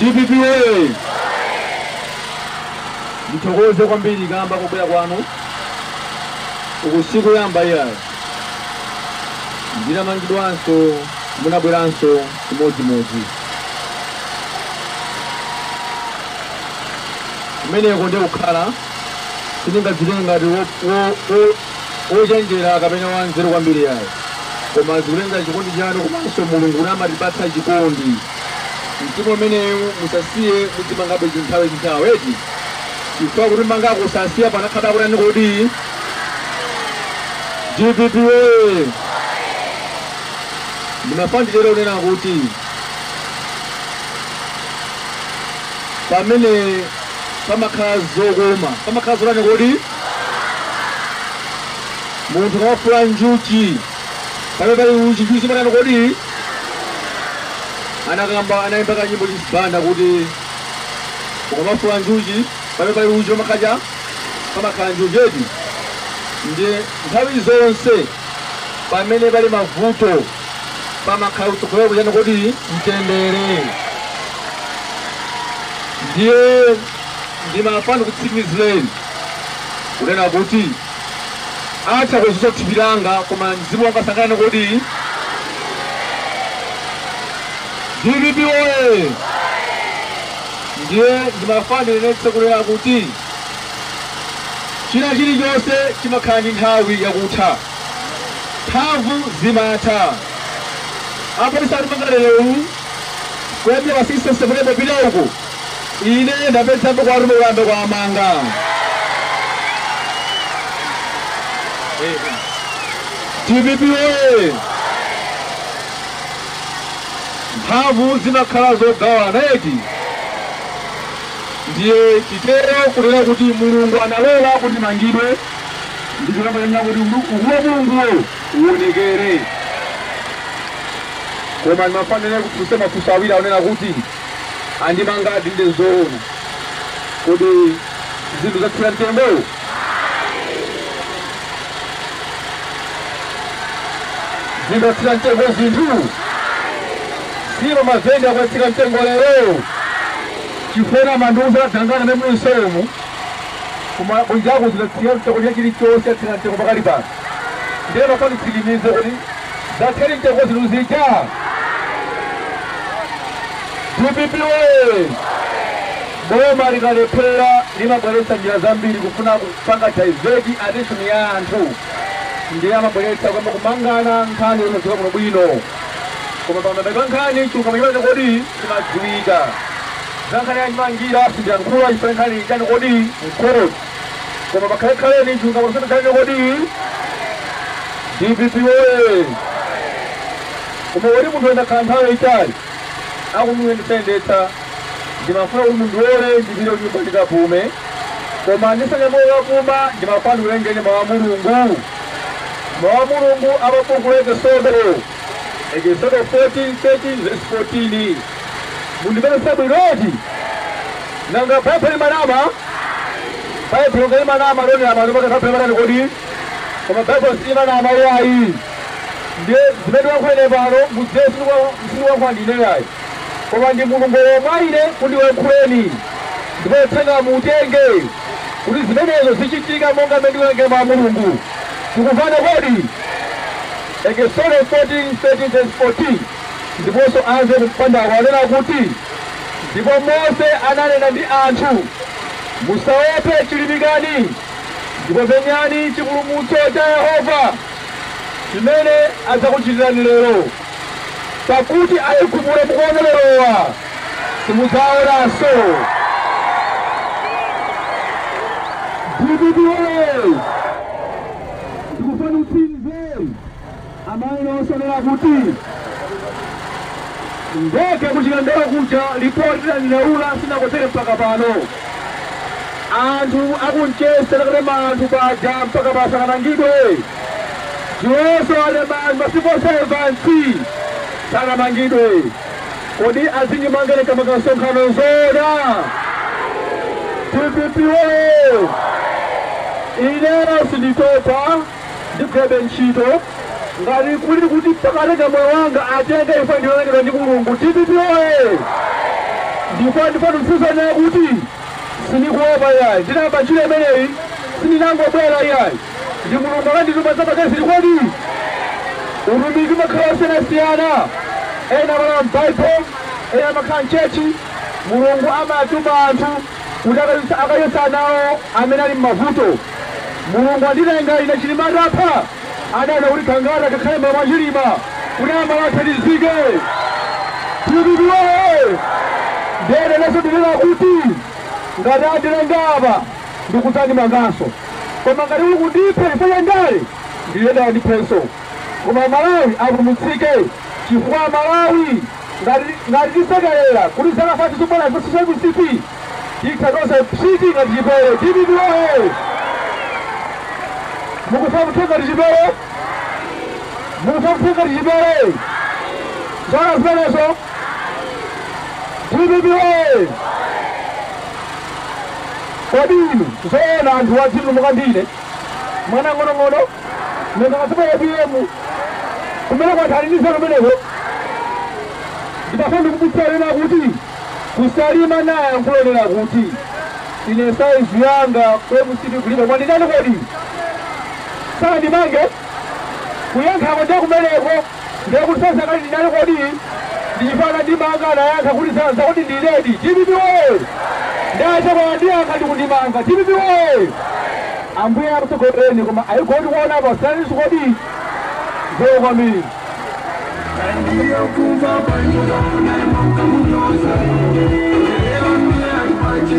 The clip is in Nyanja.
dpp oye ndithokoze kwambiri kamba ka kubwera kwanu uku sikuyamba iyayo ndinamangidwanso munabweranso chimodzimodzi kumeneko ndiko kukhala sindingadzitenge ngati wo- wo- wo- wochenjera kapena wanzeru kwambiri iyayi koma zikutengera chikondi chanu komanso mulungu kuti amatipatsa chikondi mtima umenewu musasiye mudzimangabe nthawi ndi nthawi eti chifukwa kutimangako sasiya pamakhala kutani kodi Dpp woye! Ndimafuna nditero kunena kuti pamene pamakhala zokoma pamakhala zotani kodi? Munthu ukamafula njuchi pamene pali uchi, njuchi zimatani kodi? Anakamba anayimba kanyimbo Joyce Banda kuti ukamafula njuchi pamene pali uchi pamakhala cha pamakhala njuchi eti ndiye nthawi zonse pamene pali mavuto pamakhala kutsogolera kuchani kodi mtendere ndiye ndimafuna ndikutsimikizireni kunena kuti atha kuzuza thupi langa koma mzimu wanga sangatani kodi dpp oye Ndiye ndimafuna ndinenetse kunena kuti china chilichonse chimakhala ndi nthawi yakutha. Mphamvu zimatha. Apa tisakumanga lero uwu, kuyambira pa 16 September kupita uku, ine ndapedzapo kwa Ruben kuyamba kwa amanga. Dpp oye! Mphamvu zimakhala zogawana eti? Ndiye titero kunena kuti Mulungu analola kuti ndimangidwe ndi cholinga chonena kuti umu- ukulu wa Mulunguwo uwonekere. Koma ndimafuna ndikufunseni mafunso awiri akunena kuti andimangadi ndi zoona. Kodi zinthu zatsika mtengo? Zidatsika mtengo zinthu? Si mavenda akwatsitsa mtengo lero? Chifukwa manduza dzangana ne msemu kuma kunjaku zidatsika mtengo cha chilichonse atsitsa mtengo pakali pano ndiye mukanditsimikizire kuti zatsika mtengo zinthu zija dpp woye Boma likalephera limabweretsa njira zambiri kufuna kupanga divert attention ya anthu ndiye amabweretsa kuyamba kumangana nkhani zosadziwika bwino bwino koma pa mapeto a nkhani chilungamo chimene kodi chimadziwika. Za nkhani ya chimangira sindiyankhula chifukwa nkhani ili chani kodi m'court koma pakhale khaleni chilungamo chimene chani kodi. Dpp woye! Koma kodi munthu akakhala nthawi yaitali akumuyendetsa yendetsa. Ndimafuna kuti mundilole ndipite kunyumba ndikapume, koma ndisanyamuke kukapuma, ndimafuna ndiwerengeni Mawu a Mulungu. Mawu a Mulungu a pa buku la Ekisodo, Ekisodo 14, 13 ndi 14. Mundimvetsetse bwino eti? Nanga Baibulo limanama? Baibulo ngati limanama, lionera pano pati Baibulo limatani kodi? Koma Baibulo silimanama iyayi. Ndiye zimene ndilankhula ine pano, mudziwe sindikulankhula ndine iyayi. Koma ndi Mulungu walowa mwa ine kuti ndikuyankhuleni, ndipo uthengawo muutenge kuti zimenezo zichitika monga mmene ndikuwerengera mawu a Mulungu. Tikumvana kodi? Ekisodo 14 13 vesi 14 Ndiponso amve kumpandako anena kuti, Ndipo Mose ananena ndi anthu, Musaope, chilimikani, ndipo penyani chipulumutso cha Yehova, chimene adzakuchitirani lero. Pakuti Aigupto mukuwaona lerowa simudzawaonanso. Dpp woye! Ndikufuna timve amene osanena kuti ndege kuChikangawa kuja lipoti lonena zinatere mpaka pano anthu akuNchesi akatema anthu paja mpaka pano sanamangidwe. Iwonso walembayo ma civil servants sanamangidwe kodi azindimanga ine ka msonkhano nzoona dpp woye ineyo sinditopa ndigwirabe ntchito ngati kuli kuti mpaka atenga moyo wanga atenge imfa ndi yolengedwa ndi mulungu dpp woye ndipo ndipo ndikuuzeni kuti sindikuopa yayi ndinayamba ntchito imeneyi sindinangobwera yayi Ndi Mulungu anandituma za pakezi kodi? Utumiki umakhala osiyanasiyana. Ena amakhala m'Bible, ena amakhala m'chechi. Mulungu amatuma anthu kuti akayese anawo amene ali m'mavuto. Mulungu anditenga ine Chilima atapha, adaona kuti Gangata akakhale mlomo wa Chilima kuti amalawi athandizike. Dpp woye! Ndiyeno inenso ndinena kuti ngati anditenga apa ndikudza ndimanganso. Koma ngati kuli kundipha chifukwa cha ndale ndiyenda ndiphenso koma amalawi apulumutsike chifukwa amalawi ngati tisekelera kuti zaka 5 zobwera zidzakhalenso za mcp titha tonse psiti ngati chipere dpp woye mukufuna muthe ngati chipere mukufuna muthe ngati chipere zona zimenezo dpp woye Kodi inu zoona anthuwa adzitutumuka ndi ine mwana ng'onong'ono nanga kwa apm kumeneko anthu ali ndi nzeru kumeneko ndimafuna ndikumbutse anena kuti kusalima ndinayankhulonena kuti ine saizi yanga ku mcp kulibe koma ndinanama kodi sanandimange kuyankhako ndiye kumeneko Ndiye kuti size yanga kulibe ndinanama kodi? Ndi chifukwa anandimanga anayankha kuti za za kodi ndinedi? Dpp woye! Nde achakwera andiyankha ndi kundimanga. Dpp woye! Ambuye akutsogolereni koma ayi gold kuona apa sananinso kodi? Zikomo kwambiri. Thank you.